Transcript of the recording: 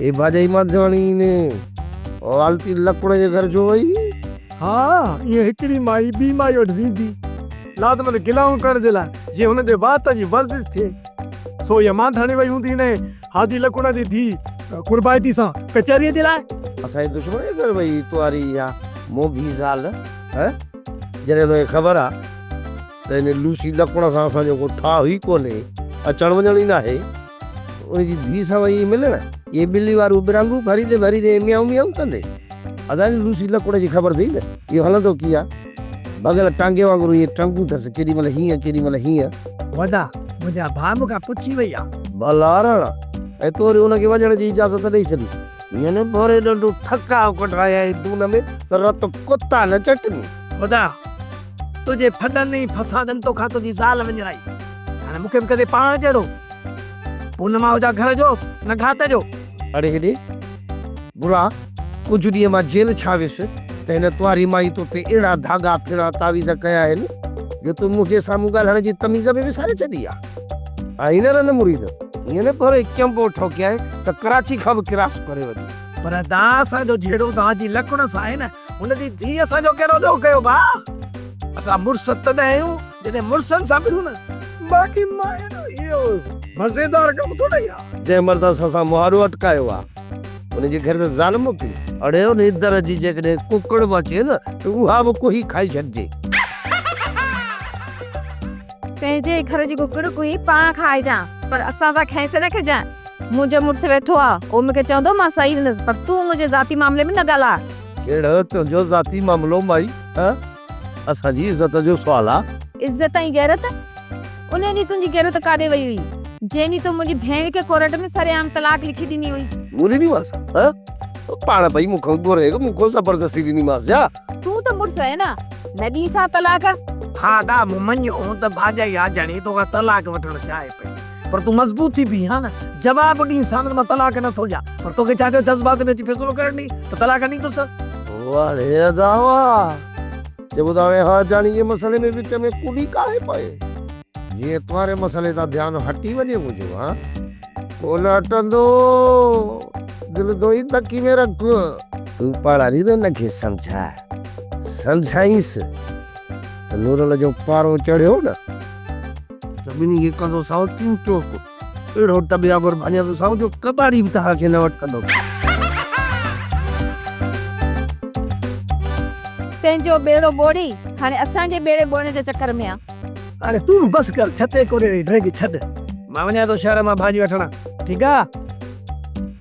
اي باجائي مانڌياڻي ني والتي لڪڙ جي گهر جو وئي. ها ايئن هڪڙي مائي ٻي مائي وٽ ويندي لازمن گلائون ڪرڻ جي لاء جيئن هن جي وات جي ورزش ٿئي سو اها مانڌياڻي وئي هوندي نئين حاجي لڪڙ جي ڌي قربائتي سان ڪچهري جي لاء. اسان جي دشمن جي گهر وئي تنواري اها موڀي زال هه جڏهن ان کي خبر آ. ته ان لوسي لڪوڻ سان اسان جو ڪو ٺاهه ئي ڪونهي، اچڻ وڃڻ ئي ناهي. ان جي ڌيء سان ويئي ملڻ. اهي ٻلي واريون ٻرانگون ڀريندي ڀريندي ميائون ميائون ڪندي. ادا جي لوسي لڪوڻ جي خبر اٿئي نه اهو هلندو ڪيئن آ. ڀڳل ٽانگي وانگر ائين ٽنگون ٿس ڪيڏي مهل هيئن ڪيڏي مهل هيئن. ودا، منهنجا ڀاء مون کان پڇي وئي آ. ڀلاراڻ، ۽ تو وري ان کي وڃڻ جي اجازت ڏئي ڇڏي. هيئن نه ڀوري ڏنڊون ٺڪاء ڪڍرائينء دون ۾ ته رت ڪتا نه چٽني. ودا، تنهنجي ڦڏن ۽ فسادن توکان تنهنجي زال وڃرائي، هاڻي مون کي به ڪندي پاڻ جهڙو. پونم آء هجان گهر جو نه گهاٽ جو. اڙي هيڏي گرا، ڪجهه ڏينهن مان جيل ڇا ويس ته هن ڪنواري مائي تو تي اهڙا ڌاڳا ڦيڻا تعويذ ڪيا آهن جو تون منهنجي سامهون ڳالهائڻ جي تميز به وساري ڇڏي آ. آء هينئر ان مريد هيئن نه پهريو ئي چنبو ٺوڪيائين ته ڪراچي کان به ڪراس ڪري وڃي. پر دانهن اسان جو جهيڙو دانهن جي لڪڻ سان آهي نه. هن جي ڌيء اسان جو ڪهڙو ڏوهه ڪيو ڀاء؟ اسان مڙس تڏهن آهيون جڏهن مڙسن سان ملون نه باقي ماين اهو مزيدار ڪم ٿورئي آ. جنهن مرد اسان سان مهاڙو اٽڪايو آ ان جي گهر ۾ زال موڪلي. اڙي ان اندر جي جيڪڏهن ڪڪڙ به اچي نه ته اها به ڪوهي کائي ڇڏجي. پنهنجي گهر جي ڪڪڙ ڪوهي پاڻ کائجان پر اسان سان کيس نه کجان. منهنجو مڙس ويٺو آ، هو مون کي چوندو مان سهي ويندس، پر تون منهنجي ذاتي معاملي ۾ نه ڳالهاء. ڪهڙو تنهنجو ذاتي معاملو مائي؟ ها اسان جي عزت جو سوال آ. عزت ۽ غيرت؟ انهي ڏينهن تنهنجي غيرت ڪاڏي وئي هئي؟ جنهن ڏينهن تون منهنجي ڀيڻ کي ڪورٽ ۾ سري عام طلاق لکي ڏني هئي. مون ڏني مانس؟ ها پاڻ پئي مون کان گهري، مون کان زبردستي ڏني مانس ڇا؟ تون ته مڙس آهين ها، نه ڏينس ها طلاق. ها دا، مون مڃيو ته ڀاڄائي آجاڻي تو کان طلاق وٺڻ چاهي پئي. پر تون مضبوط ٿي بيهه ها نه جواب ڏي ساڻس مان طلاق نه ٿو ڏيان پر توکي ڇا ٿيو جذبات ۾ اچي فيصلو ڪرڻ ڏي ته طلاق ڏيندس. واڙي ادا واه چئبو ته هاڻي ها جاني جي مسئلي ۾ وچ ۾ ڪوڏي ڪاهي پئي جيئن تنهاري مسئلي تان ڌيان هٽي وڃي منهنجو ها ڪونه هٽندو دل دوئي تڪي ۾ رک. تون پاڙاري ته هن کي سمجهاء سمجهائينس ته نورل جو پارو چڙهيو نه. زميني کي ڪندو سائو تون چوڪ. اهڙو ٽٻيا گهر ڀڃيندو سائو جو ڪٻاڙي به توهان کي نه وٽڪندو. تنهنجو ٻيڙو ٻوڙي هاڻي اسان جي ٻيڙي ٻوڙڻ جي چڪر ۾ آ. هاڻي تون به بس ڪر ڇتي ڪوريء جي ڊرنگ ڇڏ. مان وڃان ٿو شهر مان ڀاڄي وٺڻ. ٺيڪ آ.